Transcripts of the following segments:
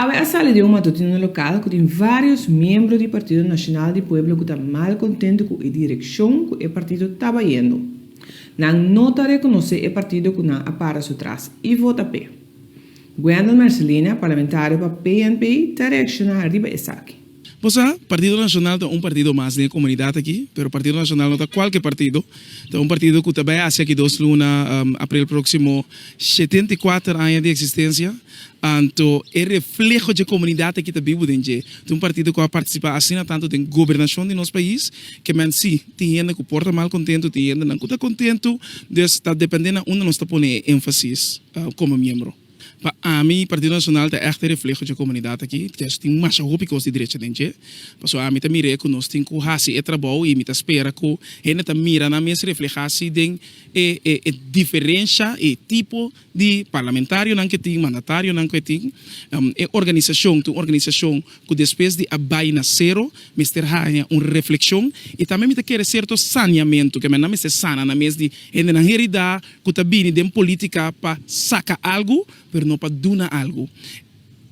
Awe a sali den un matutino lokal ku tin vários miembro di Partido Nacional di Pueblo ku ta mal kontentu ku e direkshon ku e partido ta bayendo. Nan no ta rekonosé e partido ku nan a para su tras i vota p'e. Gwendal Mercelina, parlamentario pa PNP, ta reakshoná riba esaki. Bo sa, Partido Nacional ta un partido mas den e comunidad aki, pero Partido Nacional no ta cualke partido, ta un partido cu ta bay haci aki dos luna, april proximo, shetenta i kuater aña di existencia, anto e refleho dje comunidad aki ta bibu den dje, ta un partido cu a participa asina tanto den gobernacion di nos pais, ke men si, tin hende cu por ta mal contento, tin hendenan cu ta contento, dus ta depende na unda nos ta pone e enfasis como miembro. Pa ami Partido Nacional ta ègt e refleho dje komunidat aki, kos tin masha hopi kos di drecha den dje, pasobra ami ta mir'é ku nos tin ku hasi e trabou i mi ta spera ku hende ta mira nan mes reflehá si den e e diferensha i tipo di parlamentarionan ke tin, mandatarionan ke tin, e organisashon, tin un organisashon ku despues di a bai na sero mester haña un reflekshon i tambe mi ta kere serto saniamentu ke men nan mester sana nan mes di hendenan heridá. cu ta bini den politica pa saca algo, pero no pa duna algo.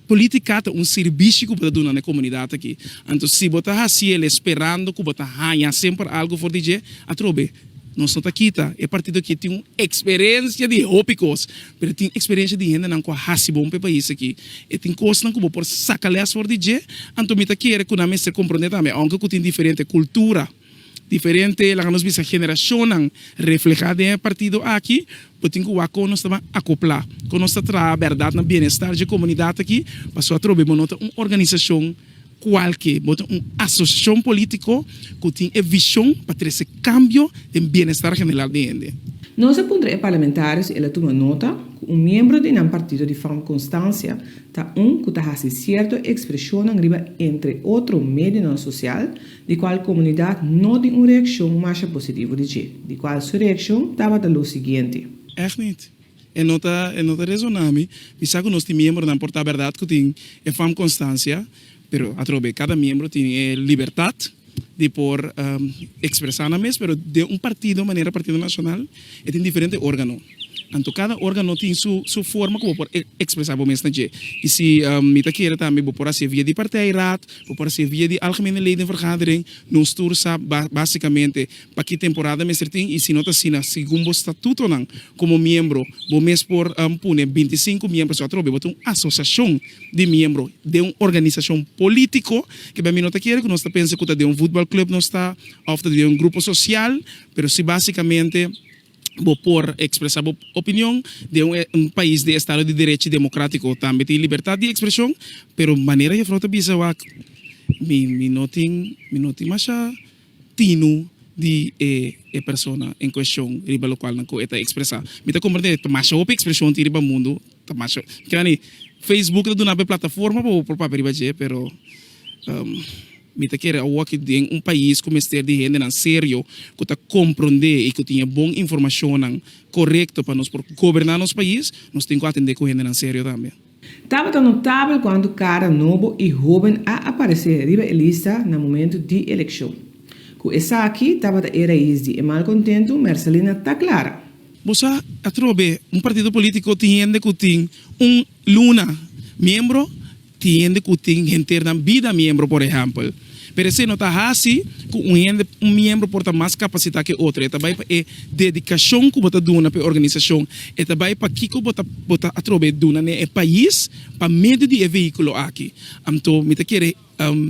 Politica ta un sirbishi cu bo ta duna na e comunidad aki. Anto si bo ta haci el'e sperando cu bo ta haña semper algo for di dje, atrobe, nos no ta kita. E partido aki tin un experiencia di hopi cos, pero e tin experiencia di hendenan cu a haci bon pa e pais aki. E tin cosnan cu bo por saca les for di dje, anto mi ta kere cu nan mester comprende tambe, aunke cu tin diferente cultura. Diferente laga nos bisa generashonnan reflehá den e partido aki, bo tin ku wak kon nos ta ban akoplá, kon nos ta traha bèrdat na bienestar dje komunidat aki, pasobra atrobe bo no ta un organisashon kualke, bo ta un asosiashon polítiko ku tin e vishon pa trese kambio den bienestar general di hende. Nos a puntra e parlamentario si el a tuma nota ku un miembro di nan partido di fòrma konstansia ta un ku ta hasi sierto ekspreshonnan riba entre otro medionan sosial di cual comunidad no tin un reaccion masha positivo di dje, di cual su reaccion tabata lo siguiente. Echt niet. E no ta, e no ta resona mi. Mi sa cu nos tin miembronan por ta berdad cu tin e fam constancia, pero atrobe cada miembro tin e libertad di por expresa nan mes, pero den un partido manera Partido Nacional e tin diferente organo. Anto kada organo tin su su forma ku bo por ekspresá bo mes na dje. I si mi ta kere tambe bo por hasié via di partijraad, bo por hasié via di algemene leden vergadering, nos tur sa ba básikamente paki temporada mester tin i si no ta asina segun bo statutonan komo miembro bo mes por pone binti i sinku miembro so atrobe bo ta un asosiashon di miembro den un organisashon polítiko ke bia mi no ta kere ku nos ta pensa ku ta den un futbalklùb nos ta òf ta den un grupo sosial pero si básikamente. Bo por ekspresá bo opinion den un pais di estado di derechi demokratiko. Tambe tin libertat di ekspreshon, pero manera Jefrou ta bisa wak mi mi no tin mi no tin masha tinu di e e persona en kueshon riba lokual nan ku e ta ekspresá. Mi ta komprendé ta masha hopi ekspreshon tin riba mundu, ta masha, mi kila ni Facebook ta duna'e plataforma pa bo por papia riba dje, pero. Mi ta kere awo aki den un pais ku mester di hendenan serio ku ta komprondé i ku tin e bon informashonnan korekto pa nos por goberná nos pais. Nos tin ku atendé ku hendenan serio tambe. Tabata notabel kuantu kara nobo i hóben a aparesé riba e lista na momentu di elekshon. Ku esaki tabata e rais di e malkontentu, Mercelina ta klara. Bo sa, atrobe un partido polítiko tin hende ku tin un luna miembro Tin hende ku tin henter nan bida miembro, por ehèmpel. Pero esei no ta hasi ku un hende, un miembro por ta mas kapasitá ku e otro. E ta bai pa e dedikashon ku bo ta duna pa e organisashon. E ta bai pa kiko bo ta bo ta atrob'é duna n'e e pais pa medio di e vehíkulo aki. Anto mi ta kere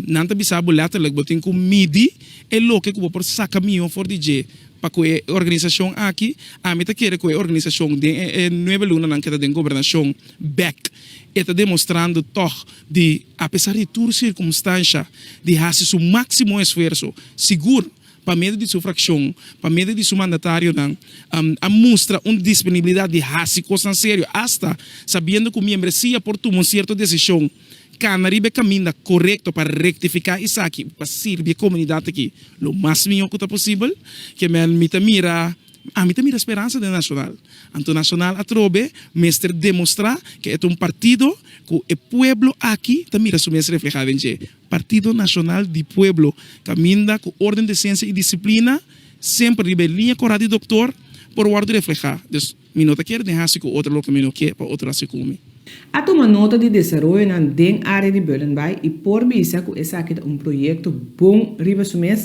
nan ta bisa bo lètterlik bo tin ku midi e loke ku bo por saka mihó for di dje pa ku e organisashon aki. Ami ta kere ku e organisashon den e e nuebe lunanan ke ta den gobernashon bèk. E ta demostrando tòg di, apesar di tur sirkumstansha, di hasi su máksimo esfuerso. Sigur, pa medio di su frakshon, pa medio di su mandatarionan, a mustra un disponibilidat di hasi kosnan serio, asta sabiendo ku miembresia por tuma un sierto desishon kana riba e kaminda korekto pa rektifiká esaki pa sirbi e komunidat aki lo mas mihó ku ta posibel. Kèmen mi ta mira. Ami ta mira speransa den Nacional, anto Nacional atrobe mester demostrá ke e ta un partido ku e pueblo aki ta mira su mes reflehá den dje. Partido Nacional di Pueblo, kaminda ku órden, desensia i disiplina semper riba e liña korá di doktor por wòrdu reflehá. Dus, mi no ta kere den hasi ku otro loke mi no ke pa otro hasi ku mi. A tuma nota di desaroyonan den área di Bullenbaai i por bisa ku esaki ta un proyekto bon riba su mes?